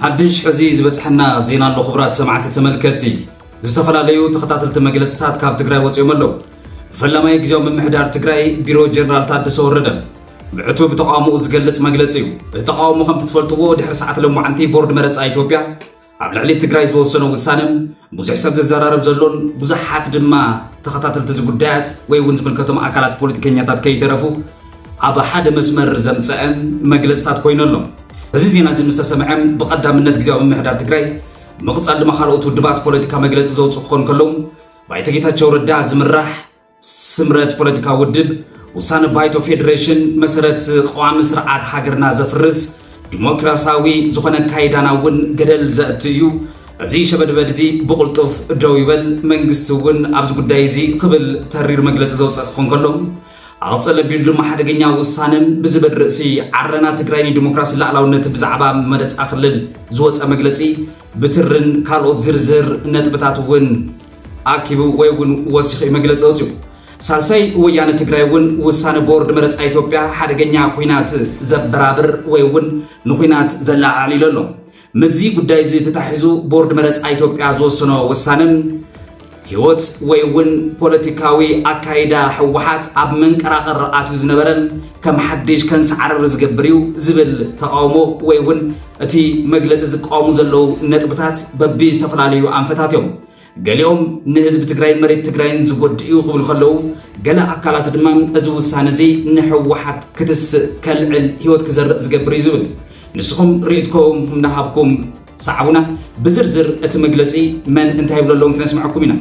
ሓድሽ ሕዚ ዝበጽሐና ዜና ኣሎ ክብራት ሰማዕቲ ተመልከቲ ዝተፈላለዩ ተኸታተልቲ መግለጽታት ካብ ትግራይ ወፂኦም ኣለዉ ፈላማይ ግዜያዊ ምምሕዳር ትግራይ ቢሮ ጀነራል ታደሰ ወረደ ብዕቱ ብተቃውሞኡ ዝገልጽ መግለፂ እዩ እቲ ተቃውሞ ከምቲ ትፈልጥዎ ድሕሪ ሰዓት ለሞዓንቲ ቦርድ መረፃ ኢትዮጵያ ኣብ ልዕሊ ትግራይ ዝወሰኖ ውሳነ ብዙሕ ሰብ ዝዘራረብ ዘሎን ብዙሓት ድማ ተኸታተልቲ እዚ ጉዳያት ወይ እውን ዝምልከቶም ኣካላት ፖለቲከኛታት ከይተረፉ ኣብ ሓደ መስመር ዘምፀአ መግለፅታት ኮይኑ ኣሎ። እዚ ዜና እዚ ምስ ተሰምዐ ብቐዳምነት ግዜያዊ ምምሕዳር ትግራይ ምቕፃል ድማ ካልኦት ውድባት ፖለቲካ መግለፂ ዘውፅኡ ክኾኑ ከለዉ ባይቶ ጌታቸው ረዳ ዝምራሕ ስምረት ፖለቲካ ውድብ ውሳነ ባይቶ ፌዴሬሽን መሰረት ቀዋሚ ስርዓት ሃገርና ዘፍርስ ዲሞክራሲያዊ ዝኾነ ኣካይዳና እውን ገደል ዘእቲ እዩ። እዚ ሸበድበድ እዚ ብቕልጡፍ ደው ይበል፣ መንግስቲ እውን ኣብዚ ጉዳይ እዚ ክብል ተሪር መግለፂ ዘውፅእ ክኾን ከሎ ኣቕፅል ኣቢሉ ድማ ሓደገኛ ውሳነን ብዝበድ ርእሲ ዓረና ትግራይ ንዲሞክራሲ ላዕላውነት ብዛዕባ መረፃ ክልል ዝወፀ መግለፂ ብትርን ካልኦት ዝርዝር ነጥብታት እውን ኣኪቡ ወይ እውን ወሲኹ እዩ መግለፂ ኣውፂኡ። ሳልሳይ ወያነ ትግራይ እውን ውሳነ ቦርድ መረፃ ኢትዮጵያ ሓደገኛ ኹናት ዘበራብር ወይ እውን ንኹናት ዘለዓዕል ኢሉ ኣሎ። ምስዚ ጉዳይ እዚ ተታሒዙ ቦርድ መረፃ ኢትዮጵያ ዝወሰኖ ውሳነ ህይወት ወይ እውን ፖለቲካዊ ኣካይዳ ህወሓት ኣብ መንቀራቐር ኣትዩ ዝነበረ ከም ሓድሽ ከንሰዓርር ዝገብር እዩ ዝብል ተቓውሞ ወይ እውን እቲ መግለፂ ዝቃወሙ ዘለዉ ነጥብታት በቢ ዝተፈላለዩ ኣንፈታት እዮም። ገሊኦም ንህዝቢ ትግራይ መሬት ትግራይን ዝጎድእ እዩ ክብሉ ከለዉ ገለ ኣካላት ድማ እዚ ውሳነ እዚ ንሕወሓት ክትስእ ከልዕል ህይወት ክዘርእ ዝገብር እዩ ዝብል ንስኹም ርእይትኩም እንዳሃብኩም ሰዓቡና ብዝርዝር እቲ መግለፂ መን እንታይ ይብሎ ኣለውን ክነስምዐኩም ኢና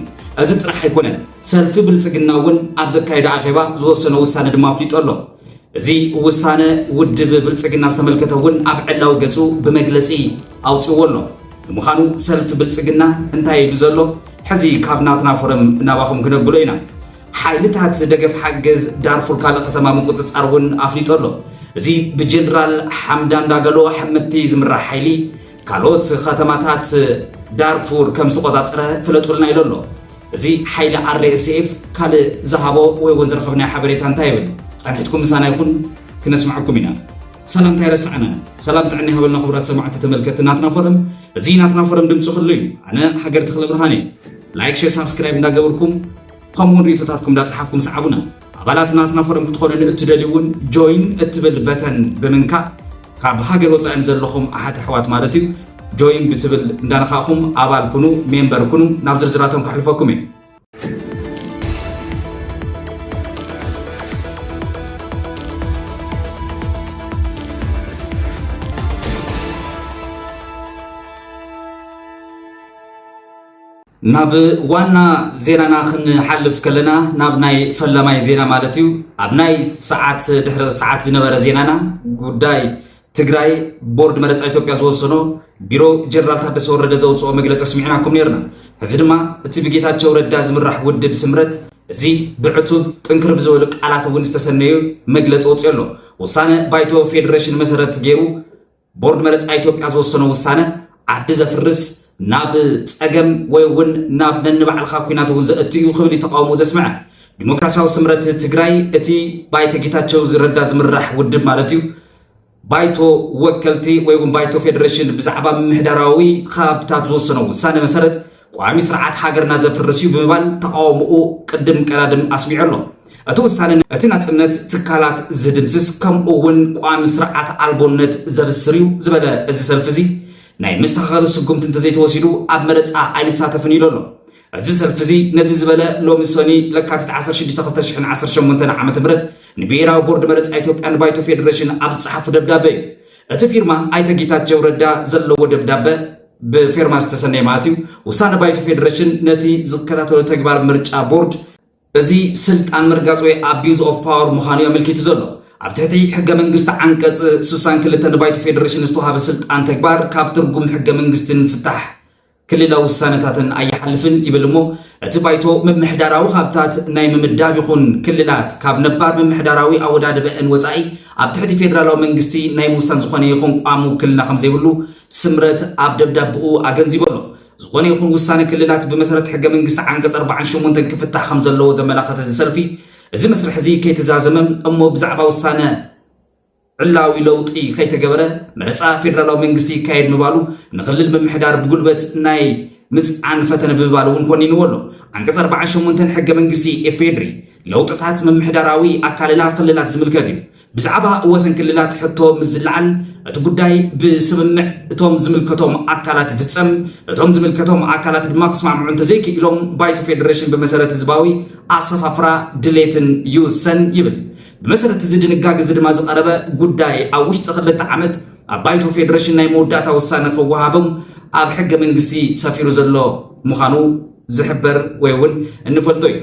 እዚ ጥራሕ ኣይኮነን ሰልፊ ብልፅግና እውን ኣብ ዘካየደ ኣኼባ ዝወሰኖ ውሳነ ድማ ኣፍሊጦ ኣሎ እዚ ውሳነ ውድብ ብልፅግና ዝተመልከተ እውን ኣብ ዕላዊ ገፁ ብመግለፂ ኣውፅዎ ኣሎ። ንምዃኑ ሰልፊ ብልፅግና እንታይ ኢሉ ዘሎ ሕዚ ካብ ናትና ፎረም ናባኹም ክነብሎ ኢና። ሓይልታት ደገፍ ሓገዝ ዳርፉር ካልእ ከተማ ምቁፅፃር እውን ኣፍሊጡ ኣሎ። እዚ ብጀነራል ሓምዳን ዳገሎ ሕምቲ ዝምራሕ ሓይሊ ካልኦት ከተማታት ዳርፉር ከም ዝተቆፃፀረ ፍለጡልና ኢሉ ኣሎ። እዚ ሓይሊ RSF ካልእ ዝሃቦ ወይ እውን ዝረኸብናዮ ሓበሬታ እንታይ ይብል? ጸንሒትኩም ምሳና ይኹን ክነስምዐኩም ኢና። ሰላም እንታይ ረሳዕና? ሰላም ጥዕና ይሃበልና ክቡራት ሰማዕቲ ተመልከቲ ናትና ፎረም እዚ ናትና ፎረም ድምፂ ክሉ እዩ። ኣነ ሃገር ተኽለ ብርሃን እየ። ላይክ ሼር ሳብስክራይብ እንዳገበርኩም ከምኡውን ርእቶታትኩም እንዳጸሓፍኩም ሰዓቡና። ኣባላት ናትና ፎረም ክትኾኑ ንእትደልዩ እውን Join እትብል በተን ብምንካእ ካብ ሃገር ወፃኢ ንዘለኹም ኣሓት ኣሕዋት ማለት እዩ Join ብትብል እንዳነኻእኹም ኣባል ኩኑ፣ ሜምበር ኩኑ፣ ናብ ዝርዝራቶም ከሕልፈኩም እየ። ናብ ዋና ዜናና ክንሓልፍ ከለና ናብ ናይ ፈላማይ ዜና ማለት እዩ ኣብ ናይ ሰዓት ድሕሪ ሰዓት ዝነበረ ዜናና ጉዳይ ትግራይ ቦርድ መረፃ ኢትዮጵያ ዝወሰኖ ቢሮ ጀነራል ታደሰ ወረደ ዘውፅኦ መግለፂ ስሚዕናኩም ነርና እዚ ድማ እቲ ብጌታቸው ረዳ ዝምራሕ ውድብ ስምረት እዚ ብዕቱብ ጥንክር ብዝበሉ ቃላት እውን ዝተሰነዩ መግለፂ ወፅኦ ኣሎ ውሳነ ባይቶ ፌዴሬሽን መሰረት ገይሩ ቦርድ መረፃ ኢትዮጵያ ዝወሰኖ ውሳነ ዓዲ ዘፍርስ ናብ ፀገም ወይ እውን ናብ ነንባዕልኻ ኩናት እውን ዘእቱ እዩ ክብል እዩ ተቃውሞ ዘስምዐ ዲሞክራሲያዊ ስምረት ትግራይ እቲ ባይቶ ጌታቸው ረዳ ዝምራሕ ውድብ ማለት እዩ ባይቶ ወከልቲ ወይ እውን ባይቶ ፌዴሬሽን ብዛዕባ ምምሕዳራዊ ከባብታት ዝወሰኖ ውሳነ መሰረት ቋሚ ስርዓት ሃገርና ዘፍርስ እዩ ብምባል ተቃውሞኡ ቅድም ቀዳድም ኣስሚዑ ኣሎ። እቲ ውሳነ እቲ ናፅነት ትካላት ዝድምስስ ከምኡ እውን ቋሚ ስርዓት ኣልቦነት ዘብስር እዩ ዝበለ እዚ ሰልፊ እዚ ናይ መስተኻኸሊ ስጉምቲ እንተዘይተወሲዱ ኣብ መረፃ ኣይንሳተፍን ኢሉ ኣሎ። እዚ ሰልፊ እዚ ነዚ ዝበለ ሎሚ ሰኒ ለካቲት 16/2018 ዓ ም ንብሄራዊ ቦርድ መረፃ ኢትዮጵያ ንባይቶ ፌዴሬሽን ኣብ ዝፀሓፉ ደብዳበ እዩ። እቲ ፊርማ ኣይተ ጌታቸው ረዳ ዘለዎ ደብዳበ ብፌርማ ዝተሰነየ ማለት እዩ። ውሳነ ባይቶ ፌዴሬሽን ነቲ ዝከታተሎ ተግባር ምርጫ ቦርድ እዚ ስልጣን ምርጋፅ ወይ ኣቢዩዝ ኦፍ ፓወር ምዃኑ እዩ ኣመልኪቱ ዘሎ። ኣብ ትሕቲ ሕገ መንግስቲ ዓንቀፅ 62 ንባይቶ ፌዴሬሽን ዝተዋሃበ ስልጣን ተግባር ካብ ትርጉም ሕገ መንግስትን ፍታሕ ክልላዊ ውሳነታትን ኣይሓልፍን ይብል እሞ እቲ ባይቶ ምምሕዳራዊ ሃብታት ናይ ምምዳብ ይኹን ክልላት ካብ ነባር ምምሕዳራዊ ኣወዳድበአን ወፃኢ ኣብ ትሕቲ ፌዴራላዊ መንግስቲ ናይ ምውሳን ዝኾነ ይኹን ቋሚ ውክልና ከምዘይብሉ ስምረት ኣብ ደብዳበኡ ኣገንዚቡ ኣሎ። ዝኾነ ይኹን ውሳነ ክልላት ብመሰረት ሕገ መንግስቲ ዓንቀፅ ኣርባዓን ሸሞንተን ክፍታሕ ከምዘለዎ ዘመላኸተ እዚ ሰልፊ እዚ መስርሕ እዚ ከይተዛዘመ እሞ ብዛዕባ ውሳነ ዕላዊ ለውጢ ከይተገበረ መረፃ ፌዴራላዊ መንግስቲ ይካየድ ምባሉ ንክልል ምምሕዳር ብጉልበት ናይ ምፅዓን ፈተነ ብምባል እውን ኮኒንዎ ኣሎ። ዓንቀፅ ኣርባዓን ሸሞንተን ሕገ መንግስቲ ኢፌድሪ ለውጥታት ምምሕዳራዊ ኣካልላ ክልላት ዝምልከት እዩ። ብዛዕባ ወሰን ክልላት ሕቶ ምስ ዝለዓል እቲ ጉዳይ ብስምምዕ እቶም ዝምልከቶም ኣካላት ይፍፀም እቶም ዝምልከቶም ኣካላት ድማ ክስማምዑ እንተዘይክኢሎም ባይቶ ፌዴሬሽን ብመሰረት ህዝባዊ ኣሰፋፍራ ድሌትን ይውሰን ይብል ብመሰረት እዚ ድንጋግ እዚ ድማ ዝቐረበ ጉዳይ ኣብ ውሽጢ ክልተ ዓመት ኣብ ባይቶ ፌዴሬሽን ናይ መወዳእታ ውሳነ ክወሃቦም ኣብ ሕገ መንግስቲ ሰፊሩ ዘሎ ምዃኑ ዝሕበር ወይ እውን እንፈልጦ እዩ።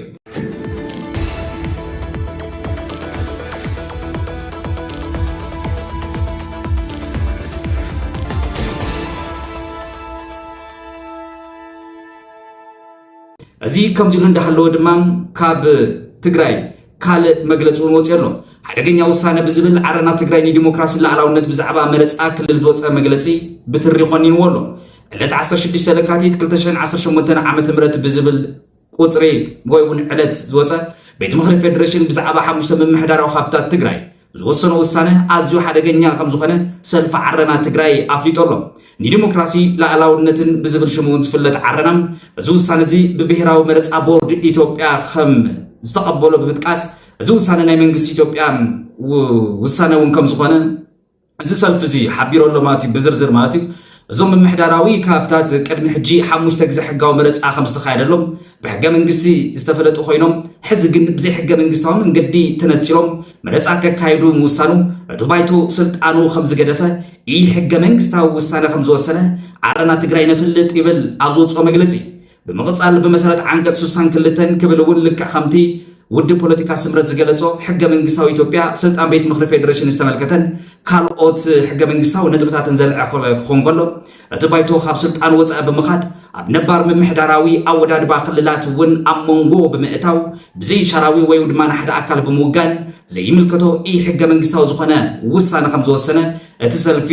እዚ ከምዚሉ እንዳሃለወ ድማ ካብ ትግራይ ካልእ መግለፂ እውን ወፅኦ ኣሎ ሓደገኛ ውሳነ ብዝብል ዓረና ትግራይ ንዲሞክራሲ ላዕላውነት ብዛዕባ መረፃ ክልል ዝወፀ መግለፂ ብትሪ ቆኒንዎ ኣሎ ዕለት ዓሰርተ ሽዱሽተ ለካቲት ክልተ ሽሕን ዓሰርተ ሸሞንተን ዓመተ ምህረት ብዝብል ቁፅሪ ወይ እውን ዕለት ዝወፀ ቤት ምኽሪ ፌዴሬሽን ብዛዕባ ሓሙሽተ ምምሕዳራዊ ሃብታት ትግራይ ዝወሰኖ ውሳነ ኣዝዩ ሓደገኛ ከም ዝኾነ ሰልፊ ዓረና ትግራይ ኣፍሊጦ ኣሎ። ንዲሞክራሲ ላእላውነትን ብዝብል ሽሙ እውን ዝፍለጥ ዓረና እዚ ውሳነ እዚ ብብሔራዊ መረፃ ቦርድ ኢትዮጵያ ከም ዝተቐበሎ ብምጥቃስ እዚ ውሳነ ናይ መንግስቲ ኢትዮጵያ ውሳነ እውን ከም ዝኾነ እዚ ሰልፊ እዚ ሓቢሮ ኣሎ ማለት እዩ ብዝርዝር ማለት እዩ እዞም ምምሕዳራዊ ካብታት ቅድሚ ሕጂ ሓሙሽተ ግዜ ሕጋዊ መረፃ ከም ዝተካየደሎም ብሕገ መንግስቲ ዝተፈለጡ ኮይኖም ሕዚ ግን ብዘይ ሕገ መንግስታዊ መንገዲ ተነፂሎም መረፃ ከካይዱ ምውሳኑ እቲ ባይቶ ስልጣኑ ከም ዝገደፈ ኢ ሕገ መንግስታዊ ውሳነ ከም ዝወሰነ ዓረና ትግራይ ነፍልጥ ይብል ኣብ ዝወፅኦ መግለፂ ብምቕጻል ብመሰረት ዓንቀጽ ስሳን ክልተን ክብል እውን ልክዕ ከምቲ ውድብ ፖለቲካ ስምረት ዝገለጾ ሕገ መንግስታዊ ኢትዮጵያ ስልጣን ቤት ምኽሪ ፌዴሬሽን ዝተመልከተን ካልኦት ሕገ መንግስታዊ ነጥብታትን ዘልዐ ክኾን ከሎ እቲ ባይቶ ካብ ስልጣን ወፃኢ ብምኻድ ኣብ ነባር ምምሕዳራዊ ኣወዳድባ ክልላት እውን ኣብ መንጎ ብምእታው ብዘይሻራዊ ወይ ድማ ንሓደ ኣካል ብምውጋን ዘይምልከቶ ኢ ሕገ መንግስታዊ ዝኾነ ውሳነ ከም ዝወሰነ እቲ ሰልፊ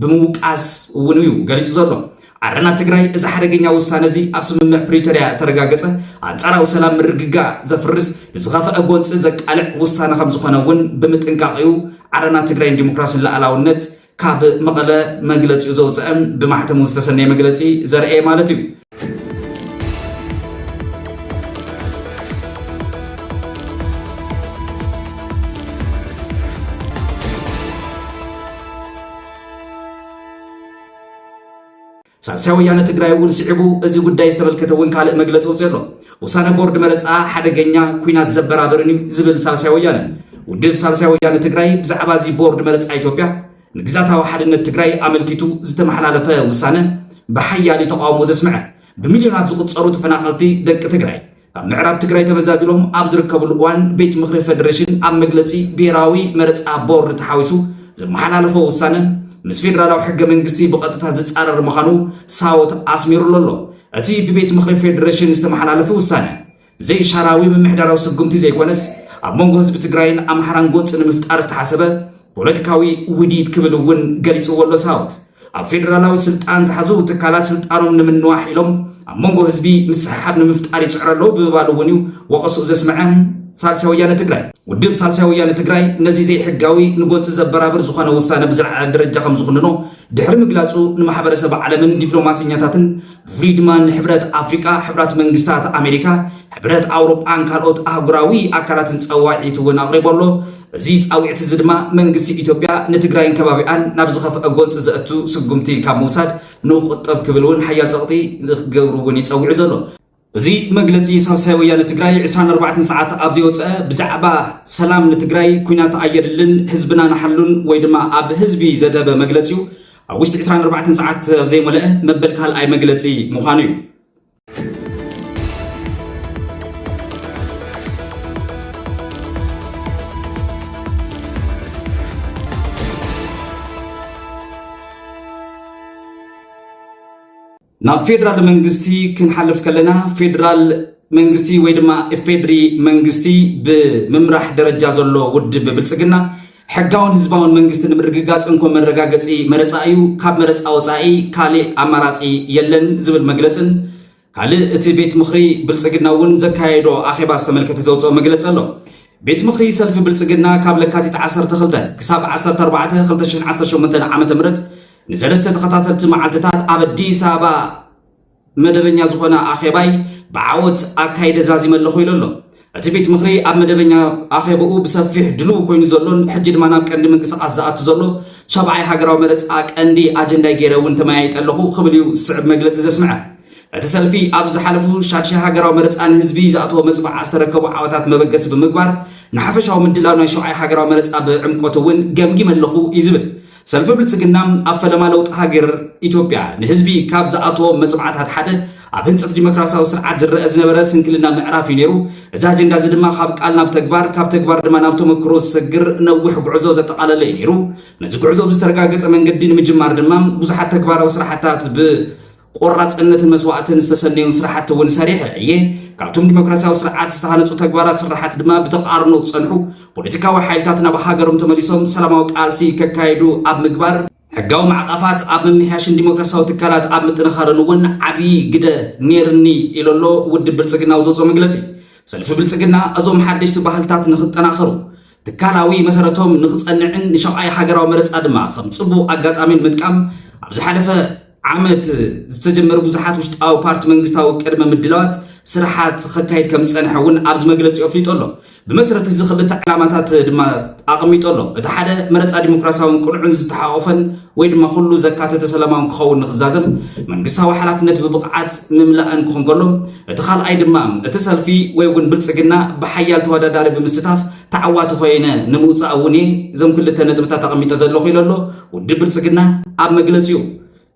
ብምውቃስ እውን እዩ ገሊፁ ዘሎ ዓረና ትግራይ እዚ ሓደገኛ ውሳነ እዚ ኣብ ስምምዕ ፕሪቶርያ እተረጋገፀ ኣንፃራዊ ሰላም ምርግጋእ ዘፍርስ ንዝኸፈአ ጎንፂ ዘቃልዕ ውሳነ ከምዝኾነ እውን ብምጥንቃቕ እዩ ዓረና ትግራይ ንዲሞክራሲን ላኣላውነት ካብ መቐለ መግለፂኡ ዘውፀእም ብማሕተሙ ዝተሰነየ መግለፂ ዘርአየ ማለት እዩ። ሳልሳይ ወያነ ትግራይ እውን ስዒቡ እዚ ጉዳይ ዝተመልከተ እውን ካልእ መግለፂ ወፅኦ ኣሎ። ውሳነ ቦርድ መረፃ ሓደገኛ ኩናት ዘበራብርን እዩ ዝብል ሳልሳይ ወያነ ውድብ ሳልሳይ ወያነ ትግራይ ብዛዕባ እዚ ቦርድ መረፃ ኢትዮጵያ ንግዛታዊ ሓድነት ትግራይ ኣመልኪቱ ዝተመሓላለፈ ውሳነ ብሓያሊ ተቃውሞ ዘስምዐ ብሚልዮናት ዝቁፀሩ ተፈናቀልቲ ደቂ ትግራይ ካብ ምዕራብ ትግራይ ተመዛቢሎም ኣብ ዝርከብሉ እዋን ቤት ምኽሪ ፌዴሬሽን ኣብ መግለፂ ብሄራዊ መረፃ ቦርድ ተሓዊሱ ዘመሓላለፎ ውሳነ ምስ ፌዴራላዊ ሕገ መንግስቲ ብቐጥታ ዝፃረር ምዃኑ ሳወት ኣስሚሩሉ ኣሎ። እቲ ብቤት ምኽሪ ፌዴሬሽን ዝተመሓላለፈ ውሳነ ዘይሻራዊ ምምሕዳራዊ ስጉምቲ ዘይኮነስ ኣብ መንጎ ህዝቢ ትግራይን ኣምሓራን ጎንፂ ንምፍጣር ዝተሓሰበ ፖለቲካዊ ውዲት ክብል እውን ገሊፅዎ ኣሎ ሳወት። ኣብ ፌደራላዊ ስልጣን ዝሓዙ ትካላት ስልጣኖም ንምንዋሕ ኢሎም ኣብ መንጎ ህዝቢ ምስሕሓብ ንምፍጣር ይፅዕሩ ኣለዉ ብምባሉ እውን እዩ ወቐስኡ ዘስመዐ ሳልሳይ ወያነ ትግራይ። ውድብ ሳልሳይ ወያነ ትግራይ ነዚ ዘይሕጋዊ ንጎንፂ ዘበራብር ዝኾነ ውሳነ ብዝለዓለ ደረጃ ከምዝኹንኖ ድሕሪ ምግላፁ ንማሕበረሰብ ዓለምን ዲፕሎማሰኛታትን ብፍሉይ ድማ ንሕብረት ኣፍሪቃ፣ ሕብራት መንግስታት ኣሜሪካ፣ ሕብረት ኣውሮጳን ካልኦት ኣህጉራዊ ኣካላትን ፀዋዒት እውን ኣቕሪቡ ኣሎ። እዚ ፃዊዕት እዚ ድማ መንግስቲ ኢትዮጵያ ንትግራይን ከባቢኣን ናብ ዝኸፍኣ ጎንፂ ዘእቱ ስጉምቲ ካብ ምውሳድ ንቁጠብ ክብል እውን ሓያል ፀቕጢ ንክገብሩ እውን እዩ ፀዊዑ ዘሎ። እዚ መግለፂ ሳልሳይ ወያነ ትግራይ ዕስራን ኣርባዕተን ሰዓት ኣብ ዘይወፀ ብዛዕባ ሰላም ንትግራይ ኩናት ኣየድልን ህዝብና ንሓሉን ወይ ድማ ኣብ ህዝቢ ዘደበ መግለፂኡ ኣብ ውሽጢ ዕስራን ኣርባዕተን ሰዓት ኣብ ዘይሞለኣ መበል ካልኣይ መግለፂ ምዃኑ እዩ። ናብ ፌደራል መንግስቲ ክንሓልፍ ከለና ፌደራል መንግስቲ ወይ ድማ ኢፌድሪ መንግስቲ ብምምራሕ ደረጃ ዘሎ ውድብ ብልፅግና ሕጋውን ህዝባውን መንግስቲ ንምርግጋፅ እንኮ መረጋገፂ መረፃ እዩ፣ ካብ መረፃ ወፃኢ ካሊእ ኣማራፂ የለን ዝብል መግለፅን ካልእ እቲ ቤት ምኽሪ ብልፅግና እውን ዘካየዶ ኣኼባ ዝተመልከተ ዘውፅኦ መግለፂ ኣሎ። ቤት ምኽሪ ሰልፊ ብልፅግና ካብ ለካቲት 12 ክሳብ 14 2018 ዓ.ም ንሰለስተ ተኸታተልቲ መዓልትታት ኣብ ኣዲስ ኣበባ መደበኛ ዝኾነ ኣኼባይ ብዓወት ኣካይደ ዛዚመ ኣለኹ ኢሉ ኣሎ። እቲ ቤት ምኽሪ ኣብ መደበኛ ኣኼባኡ ብሰፊሕ ድሉው ኮይኑ ዘሎን ሕጂ ድማ ናብ ቀንዲ ምንቅስቓስ ዝኣቱ ዘሎ ሻብዓይ ሃገራዊ መረፃ ቀንዲ ኣጀንዳይ ገይረ እውን ተመያይጠ ኣለኹ ክብል እዩ ዝስዕብ መግለፂ ዘስምዐ። እቲ ሰልፊ ኣብ ዝሓለፉ ሻድሻይ ሃገራዊ መረፃ ንህዝቢ ዝኣተዎ መፅባዕ ዝተረከቡ ዓወታት መበገሲ ብምግባር ንሓፈሻዊ ምድላው ናይ ሸውዓይ ሃገራዊ መረፃ ብዕምቆት እውን ገምጊመ ኣለኹ እዩ ዝብል ሰልፊ ብልፅግና ኣብ ፈለማ ለውጢ ሃገር ኢትዮጵያ ንህዝቢ ካብ ዝኣተዎ መፅብዓታት ሓደ ኣብ ህንፀት ዲሞክራሲያዊ ስርዓት ዝረአ ዝነበረ ስንክልና ምዕራፍ እዩ ነይሩ። እዚ ኣጀንዳ እዚ ድማ ካብ ቃል ናብ ተግባር፣ ካብ ተግባር ድማ ናብ ተመክሮ ዝሰግር ነዊሕ ጉዕዞ ዘጠቓለለ እዩ ነይሩ። ነዚ ጉዕዞ ብዝተረጋገፀ መንገዲ ንምጅማር ድማ ብዙሓት ተግባራዊ ስራሕታት ብ ቆራፅነትን መስዋእትን ዝተሰነዩን ስራሕቲ እውን ሰሪሐ እየ። ካብቶም ዲሞክራሲያዊ ስርዓት ዝተሃነፁ ተግባራት ስራሓት ድማ ብተቃርኖ ዝፀንሑ ፖለቲካዊ ሓይልታት ናብ ሃገሮም ተመሊሶም ሰላማዊ ቃልሲ ከካየዱ ኣብ ምግባር ሕጋዊ ማዕቐፋት ኣብ ምምሕያሽን ዲሞክራሲያዊ ትካላት ኣብ ምጥንኻርን እውን ዓብዪ ግደ ነይርኒ ኢሎ ኣሎ ውድብ ብልፅግና ኣብ ዘውፅኦ መግለፂ። ሰልፊ ብልፅግና እዞም ሓደሽቲ ባህልታት ንክጠናኸሩ ትካላዊ መሰረቶም ንክጸንዕን ንሻብዓይ ሃገራዊ መረጻ ድማ ከም ጽቡቕ ኣጋጣሚ ንምጥቃም ኣብ ዝሓለፈ ዓመት ዝተጀመሩ ብዙሓት ውሽጣዊ ፓርቲ መንግስታዊ ቅድመ ምድላዋት ስራሓት ከካይድ ከም ዝጸንሐ እውን ኣብዚ መግለጺ ኣፍሊጡ ኣሎ ብመሰረት እዚ ክልተ ዕላማታት ድማ ኣቐሚጡ ኣሎ እቲ ሓደ መረጻ ዲሞክራሲያውን ቅኑዕን ዝተሓቆፈን ወይ ድማ ኩሉ ዘካተተ ሰላማውን ክኸውን ንክዛዘም መንግስታዊ ሓላፍነት ብብቕዓት ምምላእን ክኾን ከሎ እቲ ካልኣይ ድማ እቲ ሰልፊ ወይ እውን ብልፅግና ብሓያል ተወዳዳሪ ብምስታፍ ተዓዋቲ ኮይነ ንምውፃእ እውን እየ እዞም ክልተ ነጥብታት ኣቐሚጠ ዘለኹ ኢሎ ኣሎ ውድብ ብልፅግና ኣብ መግለፂኡ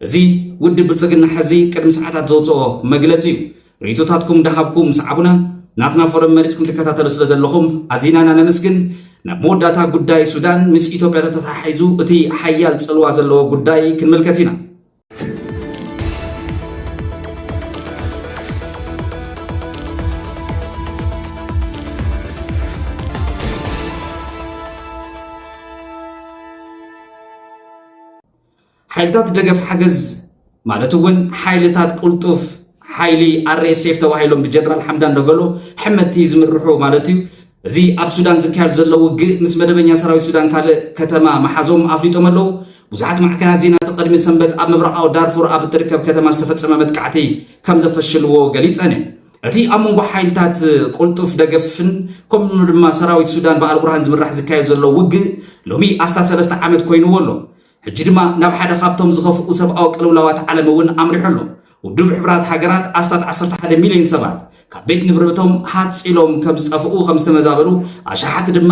እዚ ውድብ ብልፅግና ሕዚ ቅድሚ ሰዓታት ዘውፅኦ መግለፂ እዩ ርኢቶታትኩም እንዳሃብኩ ምስ ኣቡነ ናትና ፎረም መሪጽኩም ትከታተሉ ስለ ዘለኹም ኣዚና ኢና ነመስግን። ናብ መወዳእታ ጉዳይ ሱዳን ምስ ኢትዮጵያ ተተሓሒዙ እቲ ሓያል ጽልዋ ዘለዎ ጉዳይ ክንምልከት ኢና። ሓይልታት ደገፍ ሓገዝ ማለት እውን ሓይልታት ቁልጡፍ ሓይሊ ኣርኤስኤፍ ተባሂሎም ብጀነራል ሓምዳን ደገሎ ሕመቲ ዝምርሑ ማለት እዩ እዚ ኣብ ሱዳን ዝካየድ ዘሎ ውግእ ምስ መደበኛ ሰራዊት ሱዳን ካልእ ከተማ መሓዞም ኣፍሊጦም ኣለዉ ብዙሓት ማዕከናት ዜና እቲ ቅድሚ ሰንበት ኣብ ምብራቃዊ ዳርፉር ኣብ እትርከብ ከተማ ዝተፈፀመ መጥቃዕቲ ከም ዘፈሽልዎ ገሊፀን እየን እቲ ኣብ መንጎ ሓይልታት ቁልጡፍ ደገፍን ከምኡ ድማ ሰራዊት ሱዳን በዓል ቡርሃን ዝምራሕ ዝካየድ ዘሎ ውግእ ሎሚ ኣስታት ሰለስተ ዓመት ኮይኑዎ ኣሎ ሕጂ ድማ ናብ ሓደ ካብቶም ዝኸፍኡ ሰብኣዊ ቅልውላዋት ዓለም እውን ኣምሪሑ ኣሎ። ውድብ ሕቡራት ሃገራት ኣስታት ዓሰርተ ሓደ ሚልዮን ሰባት ካብ ቤት ንብረቶም ሃጽ ኢሎም ከም ዝጠፍኡ፣ ከም ዝተመዛበሉ፣ ኣሽሓት ድማ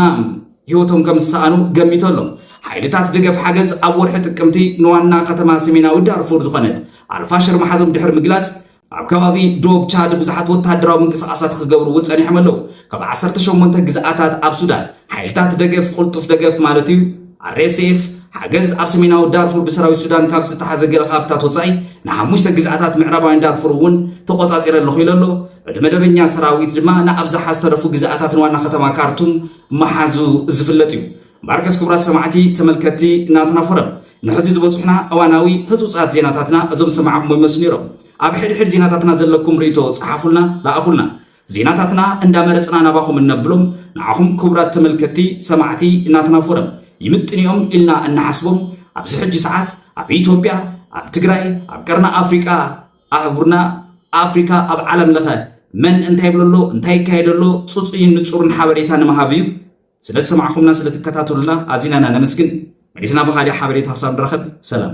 ህይወቶም ከም ዝሰኣኑ ገሚቱ ኣሎ። ሓይልታት ደገፍ ሓገዝ ኣብ ወርሒ ጥቅምቲ ንዋና ከተማ ሰሜናዊ ዳርፉር ዝኾነት ኣልፋሽር ምሓዞም ድሕሪ ምግላጽ፣ ኣብ ከባቢ ዶብ ቻድ ብዙሓት ወተሃደራዊ ምንቅስቓሳት ክገብሩ እውን ጸኒሖም ኣለዉ። ካብ 18 ግዝኣታት ኣብ ሱዳን ሓይልታት ደገፍ ቅልጡፍ ደገፍ ማለት እዩ RSF ሓገዝ ኣብ ሰሜናዊ ዳርፉር ብሰራዊት ሱዳን ካብ ዝተታሓዘ ገለ ካብታት ወፃኢ ንሓሙሽተ ግዝኣታት ምዕራባውያን ዳርፉር እውን ተቆፃፂረ ኣለኹ ኢሉ ኣሎ እቲ መደበኛ ሰራዊት ድማ ንኣብዝሓ ዝተረፉ ግዝኣታት ንዋና ከተማ ካርቱም መሓዙ ዝፍለጥ እዩ ማርከስ ክቡራት ሰማዕቲ ተመልከቲ ናትና ፎረም ንሕዚ ዝበፅሑና እዋናዊ ህፁፃት ዜናታትና እዞም ሰማዕኩሞ ይመስሉ ነይሮም ኣብ ሕድሕድ ዜናታትና ዘለኩም ርእቶ ፀሓፉልና ለኣኹልና ዜናታትና እንዳመረፅና ናባኹም እነብሎም ንዓኹም ክቡራት ተመልከቲ ሰማዕቲ እናትና ፎረም ይምጥንኦም ኢልና እናሓስቦም ኣብዚ ሕጂ ሰዓት ኣብ ኢትዮጵያ ኣብ ትግራይ ኣብ ቀርና ኣፍሪቃ ኣህጉርና ኣፍሪካ ኣብ ዓለም ለኸ መን እንታይ ይብለሎ እንታይ ይካየደሎ ፅፁይን ንፁርን ሓበሬታ ንምሃብ እዩ ስለ ዝሰማዕኹምናን ስለ ትከታተሉና ኣዚና ኢና ነመስግን። መሊስና ብኻሊእ ሓበሬታ ክሳብ ንራኸብ ሰላም።